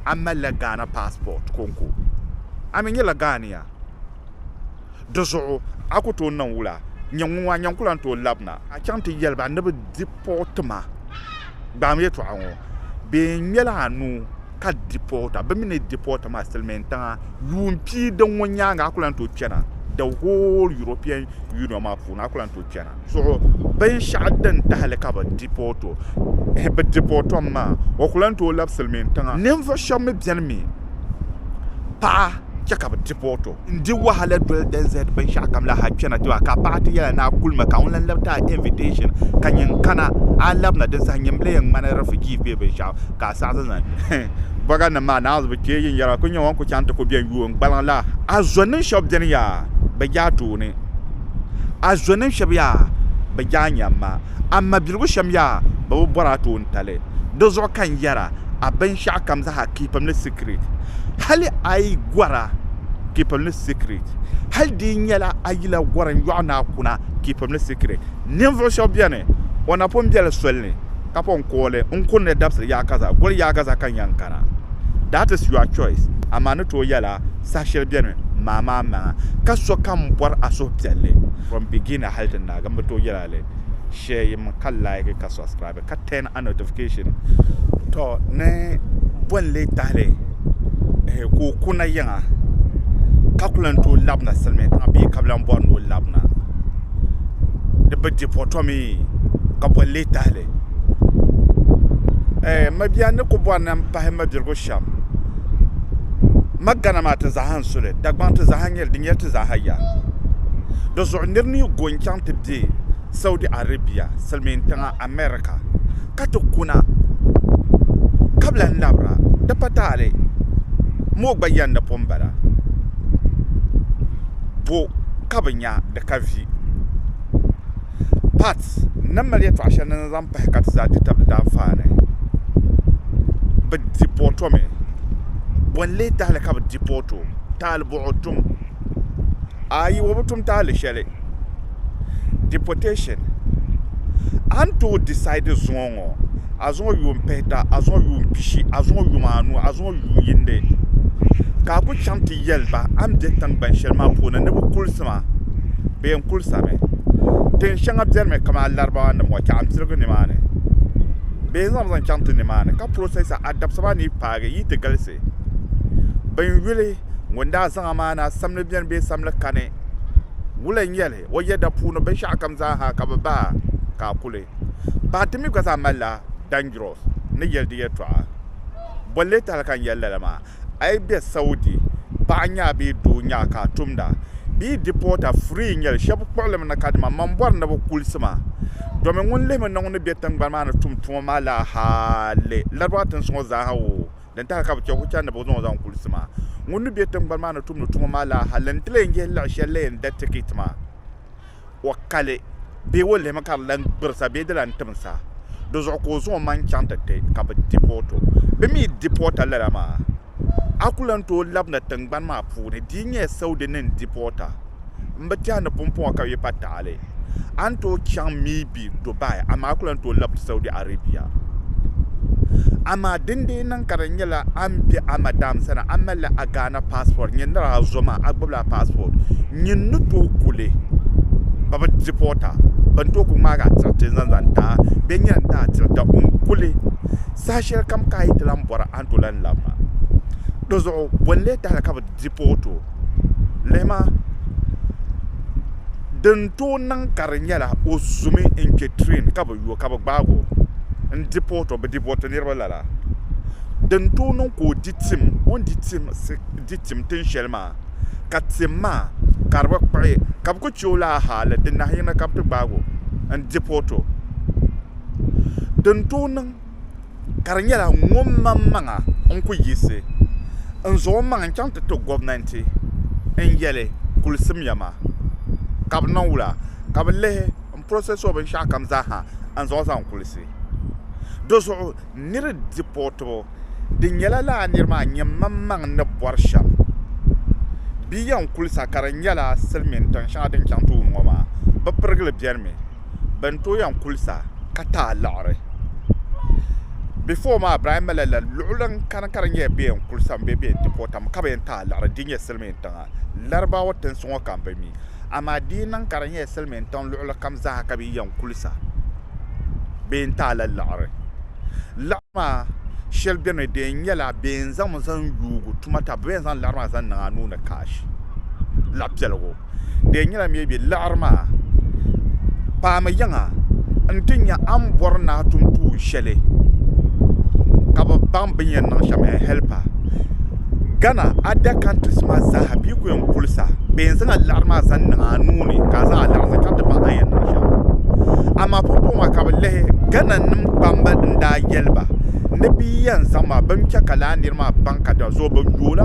A malila Ghana passport konko? A mi nyɛla Ghanea? Di zuɣu a ku tooi niŋ wula? Nyɛ ŋun ŋɔ a nyaŋ ku lan tooi lab na? A chaŋ ti yɛli ba ni bɛ di pɔɣu ti ma? Gbaam yɛtɔɣa ŋɔ, Bɛ ŋmɛla anu ka di pɔɣu ta. Bɛ mi ni di pɔɣu ta maa, Silimiin tiŋa yuun pii din ŋɔ nyaaŋa a ku lan tooi chana. The whole European Union maa puuni a ku lan tooi chana. zuɣu binshɛɣu din tahili ka bi dipɔti o maa o ku lahi tooi labi silmiin tiŋa ninvuɣu shab mii biɛni mi paɣa chɛ ka bi dipɔti o n di wahala doli NZ binshɛɣu kam la hali kpɛna tiba ka paɣa ti yɛli ni a kuli mi ka ŋuni n lahi ti a invitɛshin ka nyɛ n kana a ni labina din saha nyini n bi lee yɛn ŋmani rifijiis bee binshɛɣu ka a saɣisi zaŋ bɔga nim maa naawuni bi chɛ yin yɛra a ku nyɛ ŋun ku chaŋ ti ku biɛni yuun gbaliŋ la a zɔniŋ shab biɛni yaa bi yaatooni A zɔnim shɛb yaa bɛ jaanyam ma, a mabiligu shɛm yaa bɛ bi bɔr a toontali. Di zuɣu ka n yɛra, A binshɛɣu kam zaa kipim ni sikiriti, hali a yi gɔra kipim ni sikiriti, hal di yi nyɛla a yila gɔri n yɔɣ ni a kuna kipim ni sikiriti. Ninvuɣ shɛb beni, o na pun be li soli ni, ka pun kooi li n kuni ni dabisili yaakaza goli yaakaza ka n yɛn kana. That is your choice, amaa ni tooi yɛla, saha shɛli beni maa maa maŋa, ka so ka m bɔri a suhupiɛlli. From beginner hali ti naagi m bi tooi yɛli a li share yim ka like ka subscribe ka turn a notification to ni bo n lee tahili ehe ka o kuna yiŋa ka ku lan tooi labina silimiintiŋa bee ka bi lan bɔri ni o labina di bi di po to mi ka bo n lee tahili ehe mabiya ni ku bɔri ni m pahi mabirigu shee. cham. Magana maa ti zaaha n-su li, Dagbaŋ ti zaaha n-nyɛ li, di nyɛla ti zaaha ya. Di zuɣu nir ni yi go n-chaŋ ti be Saudi Arabia, Silimiin tiŋa America, ka ti kuna ka bi lan labira, di pa taali mooi gba yɛn ni pun bala, bo ka bi nya di ka vi? Pat n-ni mali yɛtɔɣ shɛli ni ni zaŋ pahi ka ti zaa di tabili daanfaa ni bɛ di pɔɔtomi. Bɔ n-leei tahili ka bɛ di pɔɔto? Tahili buɣu tum? Ayi, o bi tum tahili shɛli. Deportation. A ni tooi disaidi zuŋɔ ŋɔ. ŋɔ azuŋɔ yuun pihita, azuŋɔ yuun pishi, azuŋɔ yom anu, azuŋɔ yuun yindi, ka a ku chaŋ ti yɛli ba a ni be tiŋgbani shɛli maa puuni ni bɛ kulisi ma, bɛ yɛn kulisami. Tin shɛŋa biɛrimi kamani Larabawanim ŋɔ tɛɣu m-pirigi nimaani. Bɛ yɛn zaŋmi zaŋ chaŋ ti nimaani ka prosɛsa a dabisa maa ni yi paagi yi ti galisi. Bin yuli ŋun daa zaŋ amaana samli beni bee samli kani, wula n-nyɛ li? O yɛda puuni binshɛɣukam zaaha ka bɛ bahi ka a kuli bahi. Di mi gba zaa malila dangerous ni yɛli di yɛtɔɣa. Bɔ n-leei tahili ka n yɛli lala maa, a yi be Saudi, paɣa nyaɣi bee doo nyaɣi ka a tumda bee deporter free n-nyɛli. Shɛba kpuɣili mi na kadama man bɔri ni bɛ kulisi ma domi ŋun lihimi ni ŋun ni be tiŋgbani maa ni tum tuma maa laaha leei Larabawa tinsi ŋɔ zaaha o Din tahi ka bɛ chɛ ku chani ni bɛ zaŋ o zaŋ kulisi maa. Ŋun ni be tiŋgbani maa ni tumdi tuma maa la hal n ti lee yihi liɣ shɛli la yɛn da tikiti maa, o ka li bee o lihimi ka di lan gbirisa bee di lan timsa, di zuɣu ka o zaŋ o maŋ chaŋ ti ti ka bɛ dipɔɔti o. Bɛ mi dipɔɔta lala maa, a ku lan tooi labina tiŋgbani maa puuni, di yi nyɛla Saudi ni n dipɔɔta. m bi tɛhi ni pumpɔŋɔ ka bɛ yi pa taɣili, a ni tooi chaŋ maybe Dubai amaa a ku lan tooi labisi Saudi Arabia. Amaa din dii niŋ ka di nyɛla a ni be a madam sani, a malila a Ghana passport, nyin nir a zo maa, a gbibila a passport, nyin ni tooi ku li, bɛ bi deport a, bɛ ni tooi ku ŋmaag a tiriti n-zaŋ zaŋ ti a, bee nyin a ni ti a tirita o n-ku li. Saha shɛlikam ka a yi ti lan bɔra, a ni tooi lan lab ma. Dinzuɣu bɔ n-lee tahili ka bɛ deport o? lihima din tooi niŋ ka di nyɛla o zumi n kpɛ tireen ka bi yo ka bi gbaagi o n dipoti o bi dipoti niraba lala din tooi niŋ ka o di tim o ni di tim tiŋ shɛli maa ka tim maa ka di bi kpuɣi ka bi ku chɛ o laa haali di nahi yini ka bi ti gbaagi o n dipoti o ka di nyɛla ŋunmaŋmaŋa n ku yiɣisi n zaŋ o maŋ n chɛŋ ti ti gobnanti n yɛli kuli simya maa ka bi niŋ wula ka bi lihi n prosɛs o binshaɣu kam zaaha n zaŋ zaŋ kulisi dizuɣu niri dipɔɔtibu di nyɛla laa niri maa nyɛ maŋmaŋ ni bɔri shɛm bee yɛn kulisa ka di nyɛla silmiin tiŋ shɛŋa din chɛŋ tooni ŋɔ maa bi pirigili biɛni mi bɛn tooi yɛn kulisa ka ti a liɣiri. Before maa Ibrahim malila la luɣili n kani ka di nyɛla bɛ yɛn kulisa mi bee bɛ yɛn deport a mi ka bɛ yɛn ti a liɣiri di nyɛ silimiin tiŋa Larabawa tinsi ŋɔ ka m bi mi amaa di yi niŋ ka di nyɛla silimiin tiŋ luɣili kam zaa ka bɛ yi yɛn kulisa bɛ yɛn ti a la liɣiri. Liɣiri maa shɛli beni mi di yɛn nyɛla bɛ yɛn zaŋ mi zaŋ yuugi tuma ta bɛ mi yɛn zaŋ liɣiri maa zaŋ niŋ a nuu ni cash laɣipiɛligu. di yɛn nyɛla mii bee liɣiri maa paami yiŋa n ti nya a ni bɔri ni a tum tuun shɛli ka bi baŋ bi ni yɛn niŋ shɛm n hɛlp a gana ada kantiri maa zaa bee ku yɛn kulisa bee n zaŋ a liɣiri maa zaŋ niŋ a nuu ni ka a zaŋ a liɣiri zaŋ chaŋ ti baŋ a ni yɛn niŋ shɛm amaa pumpɔŋɔ maa ka bi lihi gana nim kpamba n daa yɛli ba ni bi yɛn zaŋ maa bini chɛ ka lala nira maa baŋ ka di zuɣu bi yooi la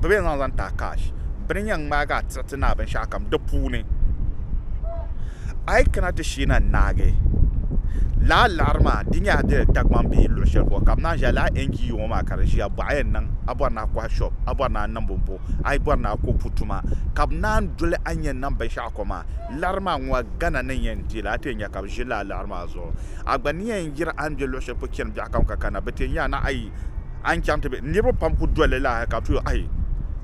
bɛ bɛn zaŋ zaŋ taai cash bɛ ni yɛn ŋmaagi a tiri ti ni a binshɛɣu kam di puuni a yi kana ti shee na n-naagi lala liɣiri maa di nyɛla di ni Dagbaŋ bee luɣ shɛli polo ka bɛ naan ʒiya lala NGO ŋɔ maa ka di ʒiya bɔhi a yɛn niŋ a bɔri ni a kɔhi shop a bɔri ni a niŋ bɔmbɔ a yi bɔri ni a ko pu tuma ka bɛ naan doli a ni yɛn niŋ binshɛɣu kom maa liɣiri maa ŋɔ Ghana ni yɛn di li a ti yɛn nya ka bɛ ʒi lala liɣiri maa zuɣu a gba ni yɛn yiri a ni be luɣ shɛli polo chani biɛɣukam ka kana bɛ ti yɛn nya a ni ayi A ni chaŋ ti be? Niriba pam ku doli li laahi ka tuhi o, Ayi!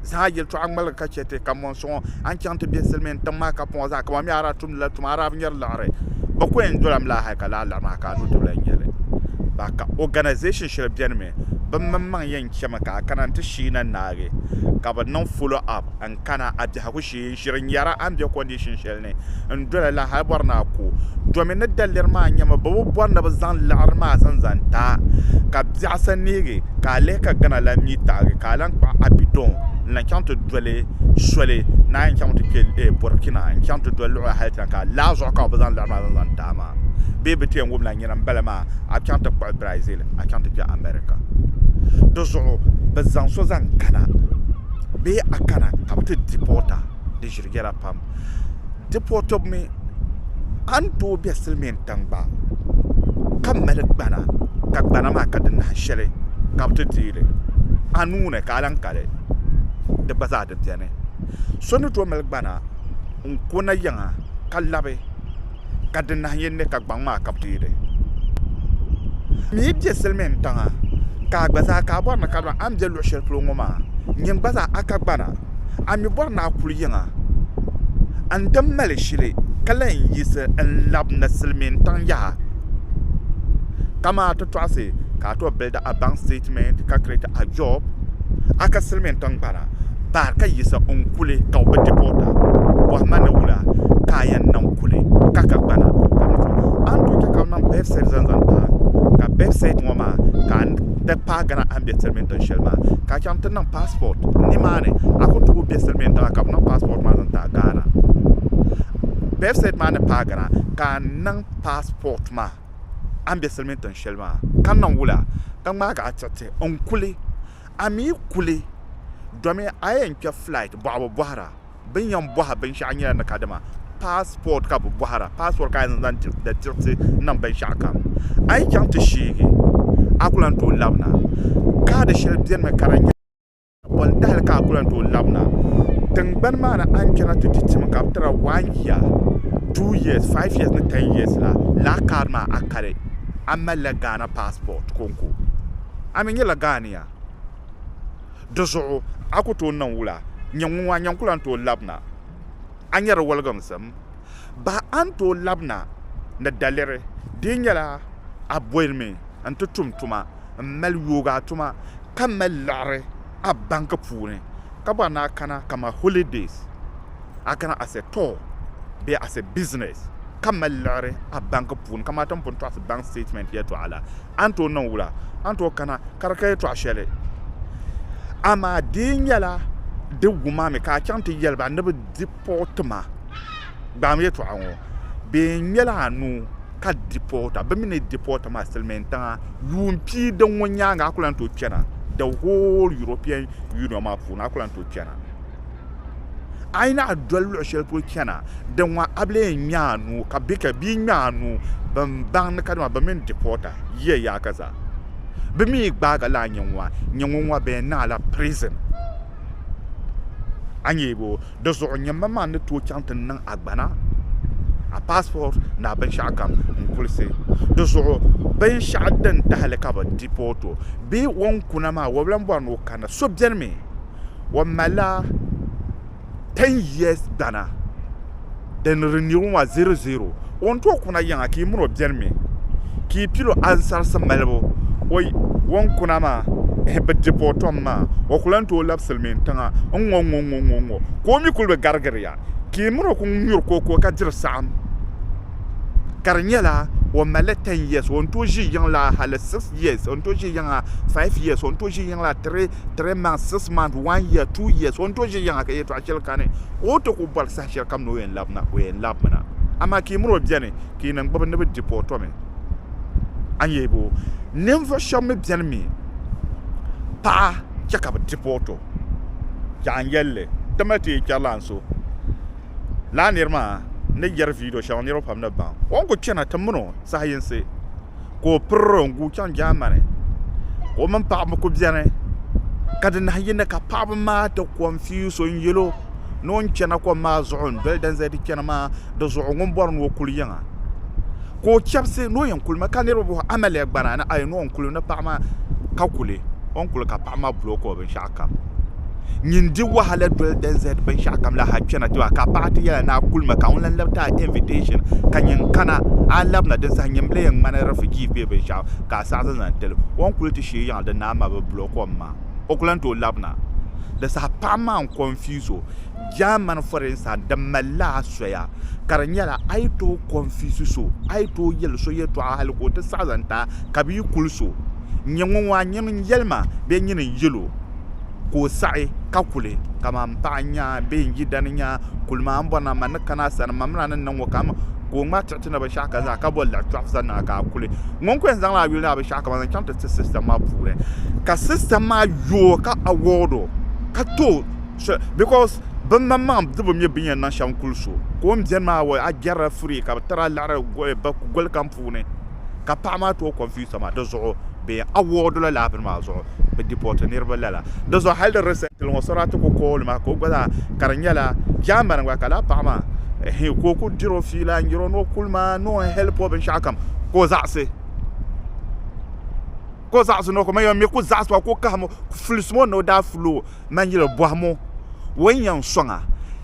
Zaa yɛltɔɣa ŋmaligi ka chɛ ti ka mɔni suŋɔ. A ni chaŋ ti be silimiin tiŋ maa kapuŋɔ zaa ka ban mi a daa tumdila tuma a daa bi nyari liɣiri. Bɛ ku yɛn dolam laahi ka laa liɣi maa ka a nuu tibili n-nyɛ li. Ba ka organization shɛli beni mi bɛ mini maŋ yɛn chɛmi ka a kana nti shii na naagi ka bɛ niŋ follow up n-kana a biɛhigu shee. ti yi ʒiri nyara a ni be condition shɛli ni n doli la hali bɔri ni a ku domi ni daliri maa nyɛmi bɛ bi bɔri ni bɛ zaŋ liɣiri maa zaŋ zaŋ ti a ka biɛɣu sa neegi ka a lihi ka gana la mi taɣigi ka a lan kpuɣi a bidɔŋ n lan chaŋ ti doli soli ni a yɛn chaŋ ti kpe eh Burkina n chaŋ ti doli luɣa hali ti na ka laa zuɣu ka bɛ bi zaŋ liɣiri maa zaŋ zaŋ ti a maa bee bɛ ti yɛn wum la nyina m bala maa a bi chaŋ ti kpuɣi Brazil a chaŋ ti kpe America di zuɣu bɛ zaŋ so zaŋ kana bee a kana ka bi ti dipota di ʒiri yɛla pam dipotbu mi a ni tooi bɛ silmiin tiŋ gba ka mali gbana ka gbana maa ka di nahi shɛli ka bi ti deeli a nuuni ka a lahi kali di gba zaa di biɛni so ni tooi mali gbana n ko nayiŋa ka labi ka di nahi yɛn ne ka gbaŋ maa ka bɛ ti yi di. N mi be silimiin tiŋa ka a gba zaa ka a bɔri ni ka a ni be luɣ shɛli polo ŋɔ maa nyin gba zaa a ka gbana. A mi bɔri ni a kuli yiŋa n di mali shili ka lan yiɣisi n lab na silimiin tiŋ yaha. Kamaa ti tɔɣisi ka a tɔb bildi a baŋ statement ka create a job a ka silimiin tiŋgbana. bahi ka yiɣisi n kuli ka o bi di boota bɔhi ma ni wula ka a yɛn niŋ kuli ka ka gbana ka mi tɔɣi a ni tooi chɛ ka bɛ niŋ bɛd sɛt zaŋ zaŋ ti a ka bɛd sɛt ŋɔ maa ka a di paai gana a ni bɛ tiri mini tin shɛli maa ka a chaŋ ti niŋ paspɔt ni maa ni a ku tooi bɛ siri mini tiŋa ka bɛ niŋ paspɔt maa zaŋ ti a Ghana bɛd sɛt maa ni paai gana ka a niŋ paspɔt maa a ni bɛ siri mini tin shɛli maa ka niŋ wula ka ŋmaagi a tiriti n kuli A mi kuli domi a yɛn kpɛ flight bɔɣibu bɔhira bɛ ni yɛn bɔhi binshɛɣu nyɛla ni ka dama passport ka bɛ bɔhira passport ka a yɛn zaŋ diri da diɣisi niŋ binshɛɣu kam a yi chaŋ ti sheegi a ku lan tooi labina kaadi shɛli benimi ka di nyɛ bɔntahili ka a ku lan tooi labina tingbani maa ni a ni kpɛna ti ti timi ka bɛ tiri a one year two years five years ni ten years la lala kaadi maa a kali a malila Ghana passport konko. a mi nyɛla gaania. Di zuɣu a ku tooi niŋ wula? Nyɛ ŋun a ni yɛn ku lan tooi labina? A nyari woliginsim? Bahi a ni tooi labina ni daliri di nyɛla a bolimi n-ti tum tuma m-mali yooi a tuma ka mali liɣiri. a banki puuni ka bɔri ni a kana kaman holidays a kana as a tour bee as a business ka mali liɣiri a banki puuni kaman ti ni pun tɔɣisi bank statement yɛltɔɣa la a ni tooi niŋ wula a ni tooi kana ka di ka yɛltɔɣa shɛli amaa dee nyɛla di wuma mi ka a chaŋ ti yɛli ba ni bɛ dipɔɔti ma gbaami yɛltɔɣa ŋɔ bee n-nyɛla a nuu ka dipota bɛ mi ni dipota maa silimiin tiŋa yuun pii din ŋɔ nyaaŋa a ku lan tooi kpɛna the whole European Union maa puuni a ku lan tooi kpɛna a yi nahi doli luɣ shɛli polo chana din ŋɔ a bi lee ŋme a nuu ka bɛ ka bia ŋme a nuu ban baŋ ni kadama bɛ mini dipota yiya yaaka zaa bɛ mi gbaagi la a nyɛ ŋɔ a nyɛ ŋɔ ŋɔ bɛ naai la prison a nyɛ bo Di zuɣu nyɛmma maa ni tooi chaŋ ti niŋ agbana, a passport ni a binshɛɣu kam n-kulisi. Di zuɣu binshɛɣu din tahili ka bɛ deport o bee o ni kuna maa o bi lan bɔri ni o kanna. So beni mi o malila ten years gbana. Di ni di nirigu maa 00 O ni tooi kuna yiŋa ka yi mini o beni mi ka yi pili o ansarisi malibu o yi O ni kuna maa ehe bi di po tom maa o ku lan tooi labisili mi n-tiŋa n-ŋɔ ŋ-ŋɔ ŋ-ŋɔ ŋ-ŋɔ ŋ-ŋɔ ka o mi kuli bi garigiri ya ka yi mini o ku nyuri ko ko ka diri saɣim ka di nyɛla o mali li 10 years o ni tooi ʒi yiŋ la hali 6 years o ni tooi ʒi yiŋa 5 years o ni tooi ʒi yiŋ la 3 3 months 6 months 1 year 2 years o ni tooi ʒi yiŋa ka yɛtɔɣa shɛli kani ka o ti ku bɔri saha Shɛli kam ni o yɛn labi na, o yɛn labimi na. Amaa ka yi miri o beni, ka yi niŋ gbubi ni bɛ di pɔɔtomi, a ni yɛli ba o. Ninvuɣ shɛb mi beni mi paɣa chɛ ka bɛ di pɔɔto. Chɛ a ni yɛli li, ti mali ti yi kpɛri lana so. Lala nir maa ni yɛri viidiyo shɛŋa niriba pam ni baŋ. O ni ku chana ti min o saha yinsi. ka o piriro n guui chaŋ jaamani ka o mini paɣaba kuli biɛni ka di nahi yini ka paɣaba maa ti konfiyuus o n yɛlo ni o ni chɛna kom maa zuɣu n doli din zaa ti chɛna maa dizuɣu ŋun bori ni o kuli yiŋa ka o chɛbisi ni o yɛn kuli mi ka niraba booi amiliya gbana ni paɣa maa ka kuli ka paɣa maa bulooki o binshaɣu kam. Nyin di wahala doli din zahidi binshɛɣu kam la ha kpɛna tiba ka paɣa ti yɛla ni a kuli ma ka ŋun lan labi ti a invitation ka nyin kana a labina din saha nyin bile yɛn ŋmani refugee bee binshɛɣu ka a saɣi zaŋzaŋ tili o ni kuli ti shee yiŋa din naa ma bi block o maa o ku lan tooi labina di saha paɣa maa n confuse o German for instance di malila a soya ka di nyɛla a yi tooi confuse so a yi tooi yɛli so yɛtɔɣa hali ka o ti saɣi zaŋ ti a ka bi yi kuli so N-nyɛ ŋun waa n-nyɛ ŋun yɛli ma bee nyini n-yɛl o, ka o saɣi ka kuli, kaman m paɣa n-nya a bee n-yidana n-nya a, kuli ma a ni bɔri ni a ma ni kani a sani, mamin a ni niŋ o ka m, ka o ŋmaai tiɣiti na binshɛɣu ka zaŋ a ka boli laɣ tɔɣu sani na ka a kuli. Ŋun ku yɛn zaŋla a yuli ni a binshɛɣu kaman zaŋ chaŋ ti ti sista maa puuni, ka sista maa yooi ka award o, ka tooi soli, because bimaŋmaŋ di bi mi bin yɛn niŋ shɛm kuli so, ka o ni beni maa award a jɛrila free ka bi tiri a liɣiri goli kam puuni. ka paɣa maa tooi confuse maa di zuɣu bee award la laa bini maa zuɣu bi deport niriba lala di zuɣu hali di recently ŋɔ Sarati ku call ma ka o gba zaa ka di nyɛla Germany gba ka laa paɣa maa ehe ka o ku diri o fiila n yiri o ni o kuli maa ni o help o binshaɣu kam ka o zaɣisi ka o zaɣisi ni o kuli ma yɛn mi ku zaɣisi ma ku kahim o ku fulisimi o ni o daa fuli o Man yili bɔhim o, O ni yɛn sɔŋ a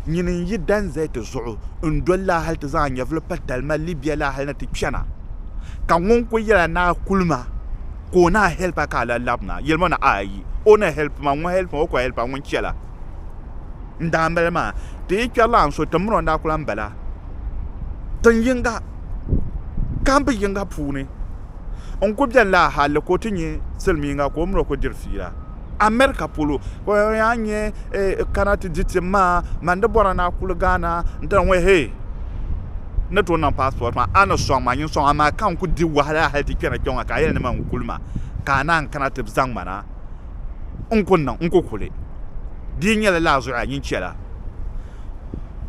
nyini n-yi danzayiti zuɣu n-doli la hal ti zaŋ a nyɛvili pa talima Libia la hal ni ti chana? Ka ŋun kul yɛl a ni a kuli ma ka o ni a hɛlp a ka a lahi labina, yɛli ma ni aayi. O ni hɛlp ma, ŋun hɛlp ma, o kul hɛlp a ŋun chɛ la. N daa mali maa, ti yi kpɛri la a ni so, tiŋgbani o ni daa ku lan bala tiŋ yiŋga, kambi yiŋga puuni. N ku beni la hal ka o ti nyɛ silimiiŋga ka o mini o ku diri fiila. America polo ka o yaa nyɛ kana ti di tim maa man di bɔra ni a kuli Ghana nti na ŋɔ hee ni tooi niŋ passport maa a ni sɔŋ ma nyin sɔŋ amaa ka n kuli di wahala hali ti kpɛna kpɛŋɔ ka a yɛli ni man kuli ma ka a naan kana ti zaŋ ma na n ku niŋ n ku kuli di yi nyɛla lala zuɣu a nyin chɛla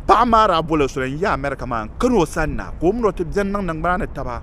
paɣa maa daa boli soli n yi America maa n kani o sani na ka o mini o ti beni niŋ niŋgbuna ni taba.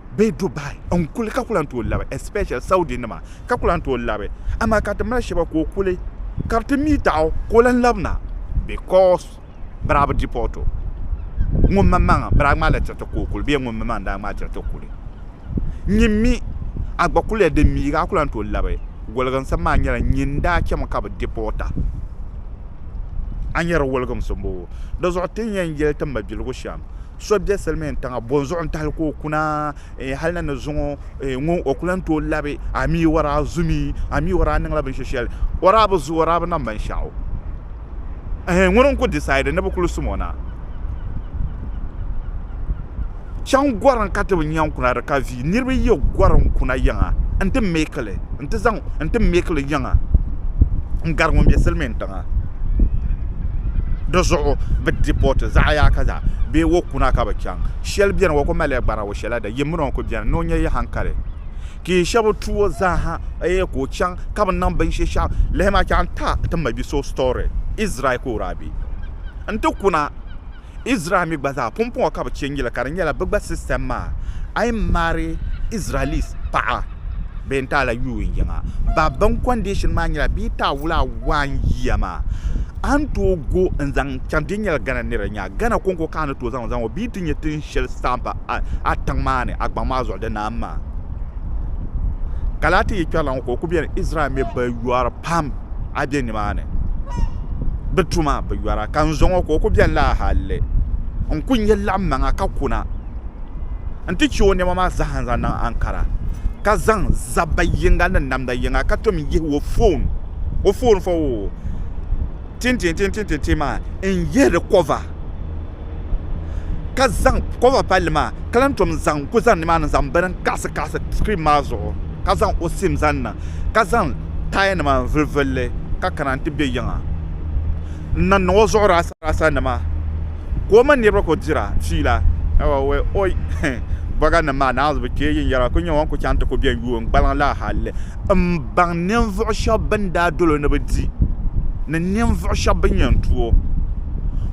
bee Dubai n kuli ka ku lan tooi labi especially Saudi nima ka ku lan tooi labi amaa ka ti mali shɛba ka o kuli ka ti mi taɣi o ka o lan labi na because bɛraa bi deport o ŋun maŋmaŋa bɛraa ŋmaa la chɛriti ka o kuli bee ŋun mi maŋa n daa ŋmaa chɛriti kuli nyin mi a gba kuliya din miigi a ku lan tooi labi woliginsim maa nyɛla nyin daa chɛmi ka bi deport a a ni yɛri woliginsi m-bɔŋɔ di zuɣu ti ni yɛn yɛli ti mabiligu shɛm So be silimiin tiŋa bonzuɣu n tahili ka o kuna eh, hali na ni zuŋɔ eh, ŋun o ku lan tooi labi a mi o daa zumi a mi o daa niŋla binshɛ shɛli o daa bi zu o daa bi niŋ binshɛɣu eh, ŋuni n ku decide ni bi kuli sum o na chaŋ gorim ka ti bi nya n kuna di ka vi niriba yi gɔri n kuna yiŋa n ti meekili n ti zaŋ n ti meekili yiŋa n gari ŋun be silimiin tiŋa di zuɣu bi dipoti zaɣ yaaka zaa bee wo kuna ka bi chaŋ shɛli biɛni o ku malila gbana wo shɛli la di yimmina o ku biɛni ni o nyɛ yi hankali ka yi shab tuo zaaha eei ka o chaŋ ka bi niŋ binshinshaɣu lihimi a chɛ a ni ti a mabisi o story Israel ka o daa bɛ n ti kuna Israel mi gba zaa pumpɔŋɔ ka bɛ che n-yili ka di nyɛla bɛ gba system maa, a yi marry Israelis paɣa bee n-ti a la yuun yiŋa, ba bini condition maa nyɛla bɛ yi ti a wula one year maa, a ni tooi go n-zaŋ chaŋ din nyɛla Ghana nira nya, Ghana kɔŋko ka a ni tooi zaŋ o zaŋ o bɛ yi ti nya tin shɛli stamp a tiŋ maa ni a gbaŋ maa zuɣu di naam maa. Ka lahi ti yi kpɛrila ŋɔ ka o ku beni Israel mi bi yɔri pam. a be nimaani bɛ tu ma bɛ yɔra ka n zo ŋɔ ka o ku beni laa halli n ku nya laɣimmaŋa ka kuna nti che o nɛma maa zaa n-zaŋ niŋ Ankara ka zaŋ zabba yiŋga ni namda yiŋga ka tom yihi o foon o foon fɔ o tintintintintintin maa n-yihi di kɔva ka zaŋ kɔva palli maa ka lan tom zaŋ ku zani nimaani zaŋ bini n-kaɣisikaɣisi sikiriin maa zuɣu ka zaŋ o sim zaŋ niŋ, ka zaŋ tayanima n-vulivuli li, ka kana nti be yiŋa. N na niŋ o zuɣu rasarasanima, ka o mini niriba kul dira fiila. Awa wɛ! Oi! Bɔganim maa naanzu bi chɛ yin yɛra kul nyɛ ŋun kul chaŋ nti ku bɛn yuui n gbaliŋ la halli m baŋ ninvuɣ shɛb bɛn daa dol o ni bi di, ni ninvuɣ shɛb bɛn yɛn tu o.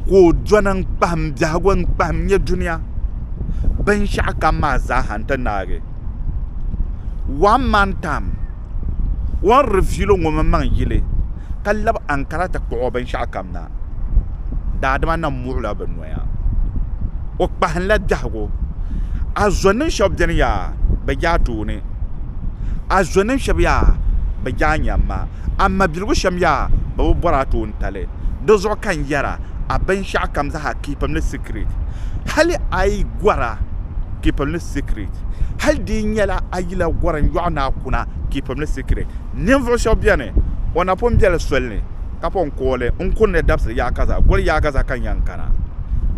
Ka o dɔni n-kpahim biɛhigu n-kpahim nyɛ dunia binshɛɣukam maa zaaha nti naagi. One man tam o ni rivilo ŋɔ mini maŋ yili ka labi ankara ti kpuɣi o binshɛɣu kam na, daadama na muɣila bɛ noya. O kpahinla biɛhigu. A zɔnim shɛb beni yaa, bɛ je a tooni. A zɔnim shɛb yaa, bɛ je a nyam ma. A mabiligu shɛm yaa, bɛ bi bɔri a toontali. Di zuɣu ka n yɛra, a binshɛɣu kam zaa a kipimli sikiriti. Hali a yi gɔra. kipim ni sikirɛt. Hal di yi nyɛla a yila gɔrim yɔɣu ni a kuna kipim ni sikirɛt, ninvuɣ shɛb beni o napɔn biɛli soli ni ka pɔn kooi li n kuri ni dabisili yaakaza goli yaakaza ka nyaŋ kana.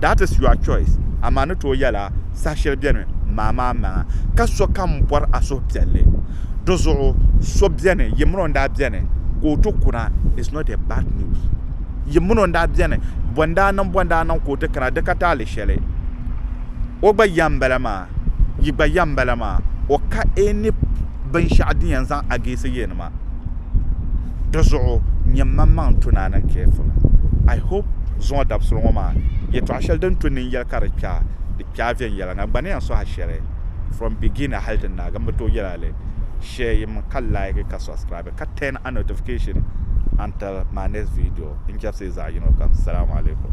That is your choice, amaa ni tooi yɛla saha shɛli beni maa maa maŋa ka sokam bɔri a suhupiɛlli. Di zuɣu so beni yi mini o n-daa beni ka o ti kuna is not a bad news. Yi mini o n-daa beni bɔ n-daa niŋ bɔ n-daa niŋ ka o ti kana di ka taali shɛli. o gba ya m-bala maa, yi gba ya m-bala maa, o ka e ni binshɛɣu din yɛn zaŋ a geesi yɛn maa. Di zuɣu nyɛ maŋmaŋ n-to ni a niŋ carefully. I hope zuŋɔ dabisili ŋɔ maa yɛtɔɣ shɛli din to nini yɛli ka di kpɛa, di kpɛa viɛnyɛliŋga. N gba ni yɛn sohi a shɛli from beginning hali ti naagi, m bi tooi yɛli a li. Share yi mi ka like ka subscribe ka turn a notification. Until my next video n chɛbisi zaɣ yino kam Salaam alaikum.